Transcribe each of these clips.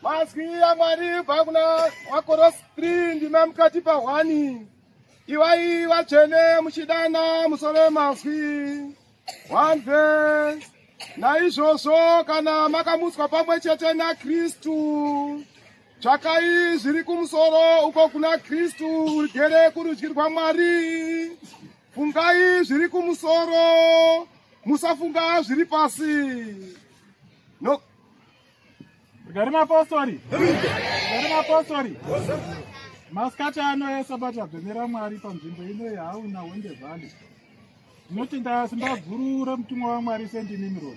Mazwi aMwari vakuna wakoros 3 ndima mukati pahwani iwai vatsvene muchidana musove mazwi one verse naizvozvo kana makamutswa pamwe chete nakristu tsvakai zviri kumusoro uko kuna kristu ugere kurudyi rwamwari Fungai zviri kumusoro, musafunga zviri pasi. No. Gari mapostori. Gari mapostori. Masikati ano esabati abvemera Mwari panzvimbo ino yehauna Hwende Valley. Ndinoti ndasimba guru remutumwa waMwari Saint Nimrod.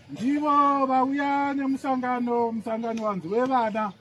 Ndivo vauya nemusangano, musangano wanzi wevana.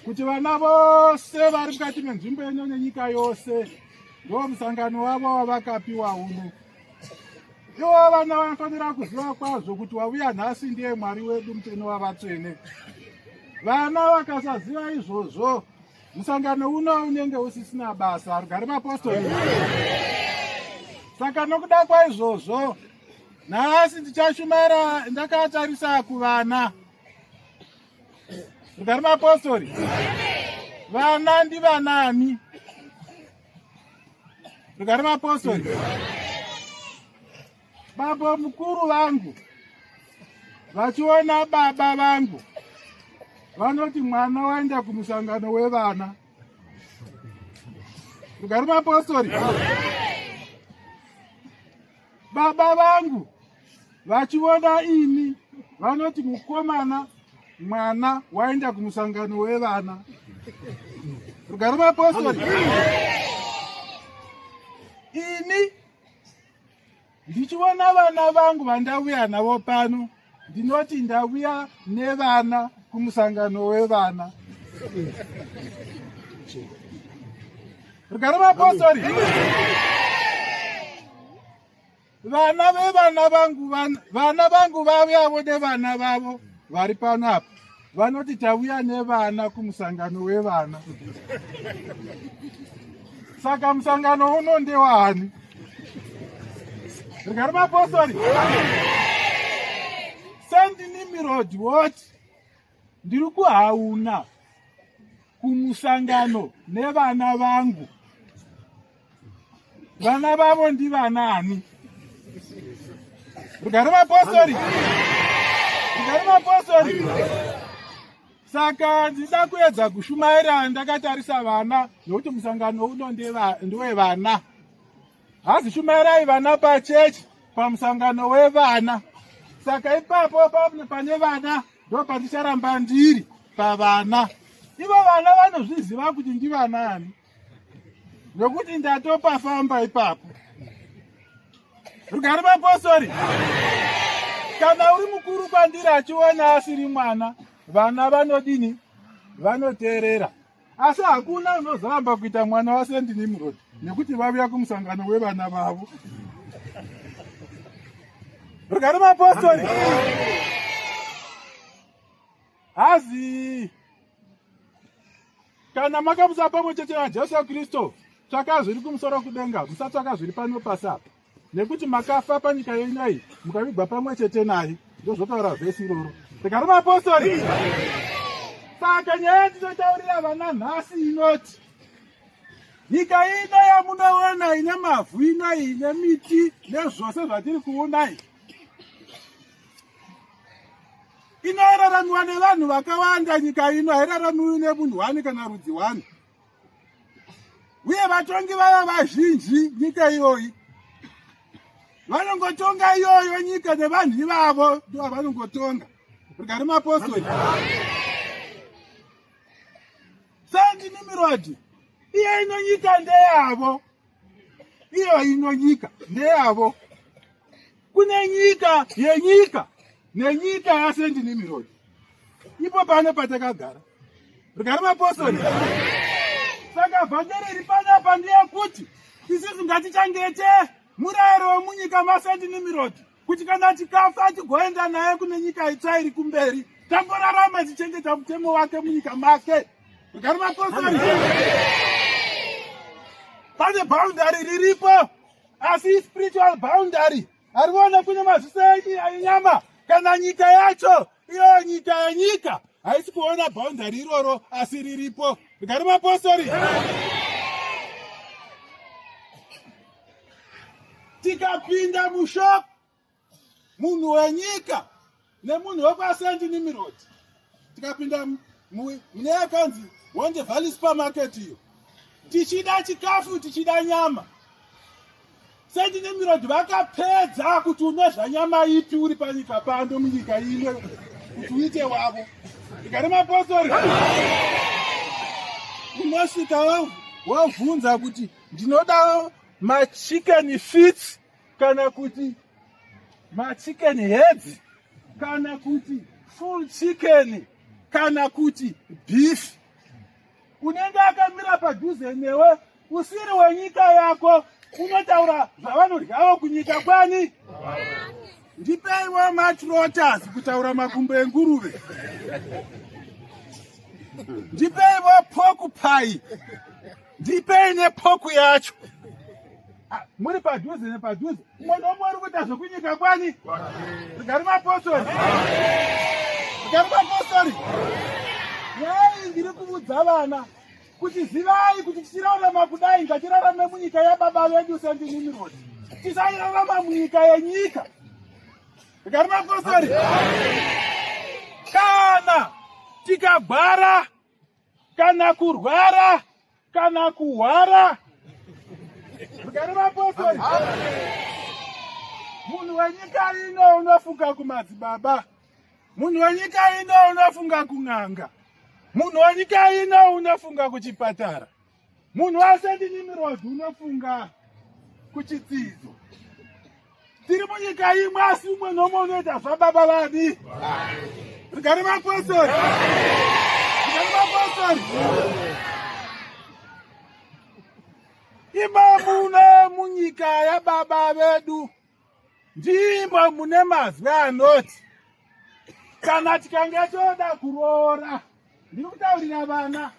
kuti vana vose vari mukati menzvimbo yenyu nenyika yose ndo musangano wavo wavakapiwa uno iwo vana vanofanira kuziva kwazvo kuti wavuya nhasi ndiye mwari wedu muteni wavatsvene vana vakasaziva izvozvo musangano uno unenge usisina basa rugare mapostori saka nokuda kwaizvozvo nhasi ndichashumara ndakatarisa kuvana mukati maapostori vana ndivanani mukati maapostori baba mukuru vangu vachiona baba vangu vanoti mwana waenda kumusangano wevana mukati maapostori Baba vangu vachivona ini vanoti mukomana mwana waenda kumusangano wevana rugare mapostori ini ndichivona vana vangu vandavuya navo pano ndinoti ndavuya nevana kumusangano wevana rugare mapostori vana vevana vangu vana vangu vavuyavo nevana vavo vari pano apa vanoti tauya nevana kumusangano wevana saka musangano uno ndewaani rigari mapostori sendinimirodi woti ndiri kuhauna kumusangano nevana vangu vana vavo ndivanaani rugare mapostori rugare mapostori saka ndida kuedza kushumaira ndakatarisa vana nokuti musangano uno ndewevana hazi shumairai vana pachechi pamusangano wevana saka ipapo pane vana ndo pandicharamba ndiri pavana ivo vana vanozviziva kuti ndivanaani nokuti ndatopafamba ipapo rugari mapostori kana uri mukuru kwandiri achiona asiri mwana vana vanodini vanoteerera asi hakuna unozoramba kuita mwana wasendi nimrod nekuti vavuya kumusangano wevana vavo rugari mapostori hazii kana makamusa pamwe chete najesu kristu tsvaka zviri kumusoro kudenga musatsvaka zviri pano pasi apa nekuti makafa panyika yenyu iyi mukavigwa pamwe chete naye ndozvotaura vhesi iroro rega rimapostori saka nyaya yatinotaurira vana nhasi inoti nyika ino yamunoona ine mavhu ino ine miti nezvose zvatiri kuona iyi Inoraramiwa nevanhu vakawanda nyika ino hairaramiwi nemunhu wani kana rudzi wani. Uye vatongi vaya vazhinji nyika iyoyi vanongotonga iyoyo nyika nevanhu ivavo ndivo vanongotonga rigari mapostori sandini mirodi iye ino nyika ndeyavo iyo ino nyika ndeyavo kune nyika yenyika nenyika yasendi nimirodi ipo pano patakagara rugari mapostori saka vhangeri iri panapa ndeyekuti isisi ngatichangete murayiro wemunyika masendi nimirodi kuti kana tikafa tigoenda naye kune nyika itsva iri kumberi tamborarama tichengeta mutemo wake munyika make rugari mapostori pane boundary riripo asi spiritual boundary ariona kune maziso enyama kana nyika yacho iyo nyika yenyika haisi kuona boundary iroro asi riripo rugari mapostori tikapinda mushop munhu wenyika nemunhu wekwasendi nimirod tikapinda mune yakanzi wonde valley supermarket iyo tichida chikafu tichida nyama sendi nimirod vakapedza kuti unodya nyama ipi uri panyika pando munyika imwe kuti uite wavo ikari mapostori unosvika wavhunza kuti ndinoda machicken fits kana kuti machicken heads kana kuti full chicken kana kuti beef unenge akamira padhuze newe usiri wenyika yako unotaura zvavanodyavo kunyika kwani ndipeiwo matrotas kutaura makumbo enguruve ndipeiwo pokupai ndipei nepoku yacho ah, muri padhuze nepadhuze umwe nomwe uri kuita zvekunyika kwani rigari mapostori rigari mapostori yai ndiri kuvudza vana kuti zivai kuti tichirarama kudai ngatirarame munyika yababa vedu sendinimirod tisairarama munyika yenyika rigari mapostori kana tikagwara kana kurwara kana kuhwara rugare vapostori munhu wenyika ino unofunga kumadzibaba munhu wenyika ino unofunga kun'anga munhu wenyika ino unofunga kuchipatara munhu wese ndinimirodzi unofunga kuchitsidzo tiri munyika imwe asi umwe nomwe unoita zvababa vadi rigari mapostori rigari mapostori imamune munyika yababa vedu Ndimo mune mazwi anoti kana tikange toda kuroora, ndiri kutaurira vana,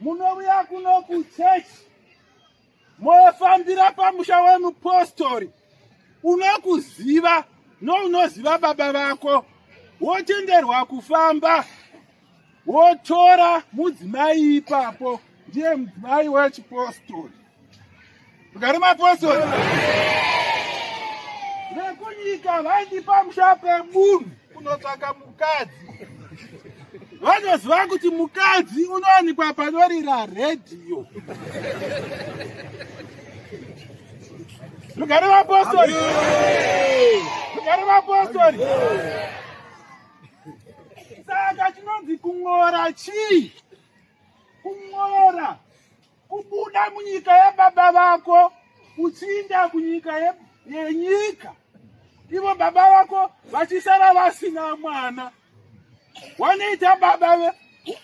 munouya kuno kuchechi mofambira pamusha wemupostori unokuziva nounoziva baba vako wotenderwa kufamba wotora mudzimai ipapo ndiye mudzimai wechipostori rugare mapostori vekunyika vaindipa musha pemunhu kunotsvaka mukadzi vanoziva kuti mukadzi unowanikwa panorira redhiyo rugare mapostori rugare mapostori saka chinonzi kung'ora chii kung'ora kubuda munyika yababa vako uchiinda kunyika yenyika ivo baba vako vachisara vasina mwana wanoita baba ve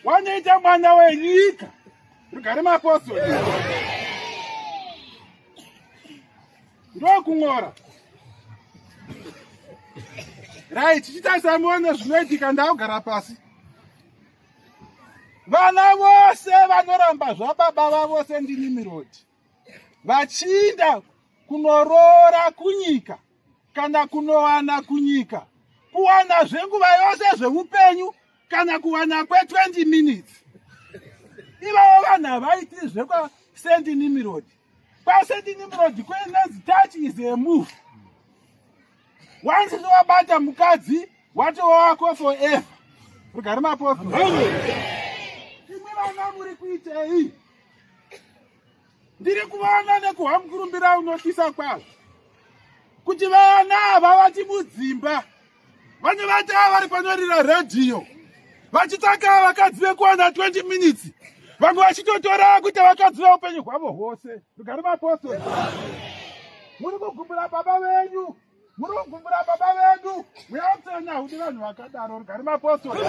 wanoita mwana wenyika rugare mapostori ndokung'ora right chitarisai muone zvinoitika ndakugara pasi vana vose vanoramba zvababa vavo sendini mirodi vachiinda kunoroora kunyika kana kunowana kunyika kuwana zvenguva yose zveupenyu kana kuwana kwe 20 minutes ivavo vanhu havaiti zvekwa sendini mirodi Pasedini murodi kwenanzi touch is a move. Once towabata mukadzi watova wako forever. Rugare maposto. Imwe vana muri kuitei? Ndiri kuvaona nekuhwa mukurumbira unotisa kwazvo. Kuti vana ava vati mudzimba. vanhu vati ava vari panorira redhiyo vachitsaka vakadzi vekuwana 20 minutes vamwe vachitotora kuita vakadzi veupenyu hwavo hwose rugari mapostori muri kugumbura baba venyu muri kugumbura baba vedu muyatsenya hudi vanhu vakadaro rugari mapostori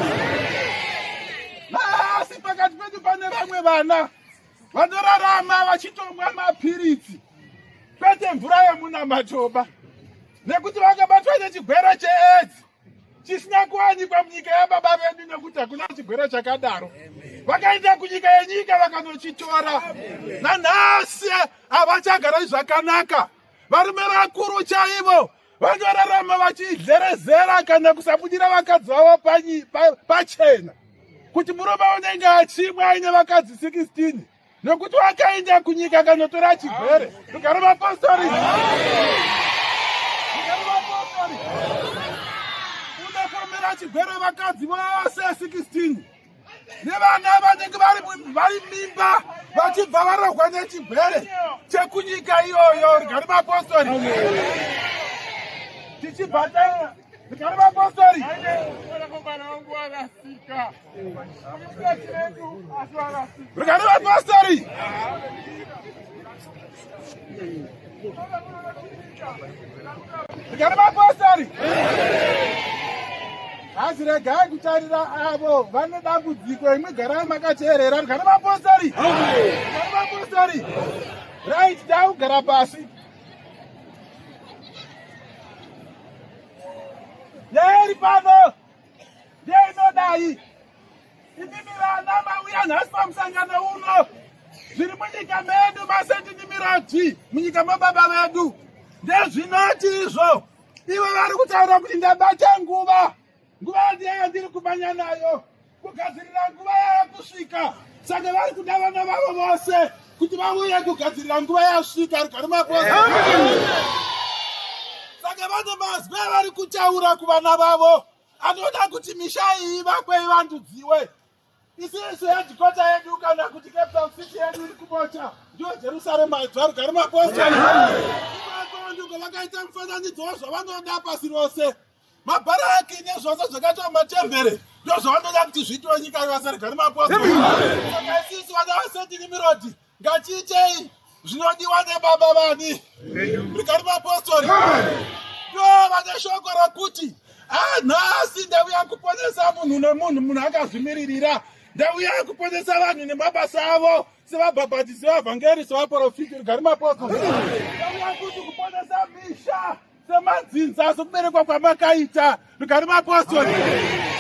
asi pakati pedu pane vamwe vana vanorarama vachitomwa mapiritsi kwete mvura yemunamatoba nekuti vakabatwa nechigwere cheedzi chisina kuwanikwa munyika yababa vedu nekuti hakuna chigwere chakadaro vakaenda kunyika yenyika vakanochitora nanhasi havachagara zvakanaka varume vakuru chaivo Vakararama vachidherezera kana kusabudira vakadzi vavo pachena kuti murume unenge achimwa aine vakadzi 16 nokuti wakaenda kunyika kanotora chigwere rugare mapostori unokomera chigwere vakadzi vose 16 nevana vanenge vari mimba vachibva varohwa nechigwere chekunyika iyoyo rigari mapostori tichibva taita rigari mapostori rigari mapostori Ndikari mapostori hazi regai kutarira avo vane dambudziko imwe garai makateerera ndikari mapostori ndikari mapostori right daugara pasi yaeri pano ndeinodai Imimi vana mauya nhasi pamusangano uno zviri munyika medu masendi nimiradzi munyika mababa vedu ndezvinoti izvo ivo vari kutaura kuti ndabata nguva nguva yandiya yandiri kumanya nayo kugadzirira nguva yava kusvika saka vari kuda vana vavo vose kuti vauye kugadzirira nguva yasvika rugari maposa saka vane mazwi avari kutaura kuvana vavo anoda kuti misha iyi ivakwe ivandudziwe isisu hedhikota yedu kana kuti captain city yedu iri kubocha ndiyo jerusarema yedzvarugari mapostoli ndiko vakaita mufananidzo wezvavanoda pasi rose mabharaki nezvose zvakaitwa matembere ndozvavanoda kuti zviitwe nyika ivasarigari mapostoli saka isisu vana vasetini mirodi ngatiitei zvinodiwa nebaba vani rikari mapostori ndo vane shoko rokuti anhasi ah, ndauya kuponesa munhu nemunhu munhu akazvimiririra ndauya kuponesa vanhu nemabasa avo sevabhabhatisi vavhangeri sevaporofiti rikari mapostori ndauya kuti kuponesa misha semadzinza sokuberekwa kwamakaita rugari mapostori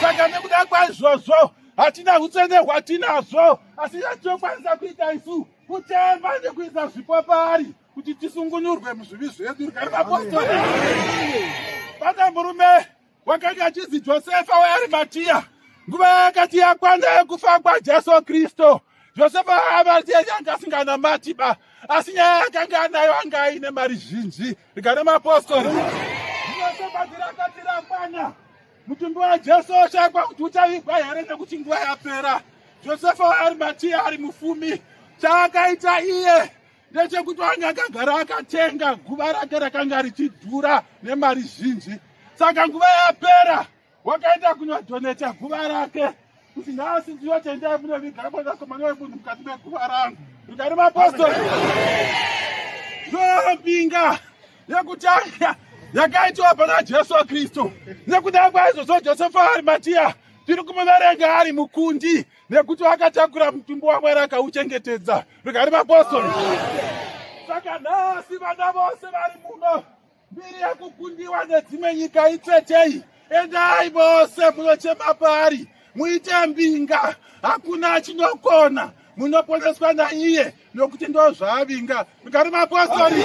saka nekuda kwaizvozvo hatina utsvene hwatinazvo asi yatokwanisa kuita isu kutemba nekuisa zvipo paari kuti tisungunurwe muzvivi zvedu rugari mapostori bata murume wakati achizi josefa wearimatiya nguva yakati yakwana yekufa kwajesu kristu josefa aamatiya yanga asinganamati ba asi nyaya yakanga anayo anga aine mari zhinji rigana mapostori iosebazirakatirakwana mutumbi wajesu oshakwa kuti uchavigwa here nekuti nguva yapera josefa wearimatiya ari mufumi chaakaita iye ndechekuti wange akagara akatenga guva rake rakanga richidhura nemari zhinji saka nguva yapera wakaenda kunodhoneta guva rake kuti nhasi ndiyo tendai munoviga mwanakomana wemunhu mukati meguva rangu ndikari mapostori ndombinga yekutanga yakaitiwa pana jesu kristu nekuda kwaizvozvo josefa arimatiya tiri kumuverenga ari mukundi nekuti vakatakura mutumbi wamwari akauchengetedza rikari vapostoli saka nhasi vana vose vari muno mbiri yekukundiwa nedzimwe nyika itsetei endai vose munochema paari muite mbinga hakuna achinokona munoponeswa naiye nokuti ndo zvaavinga rikari vapostoli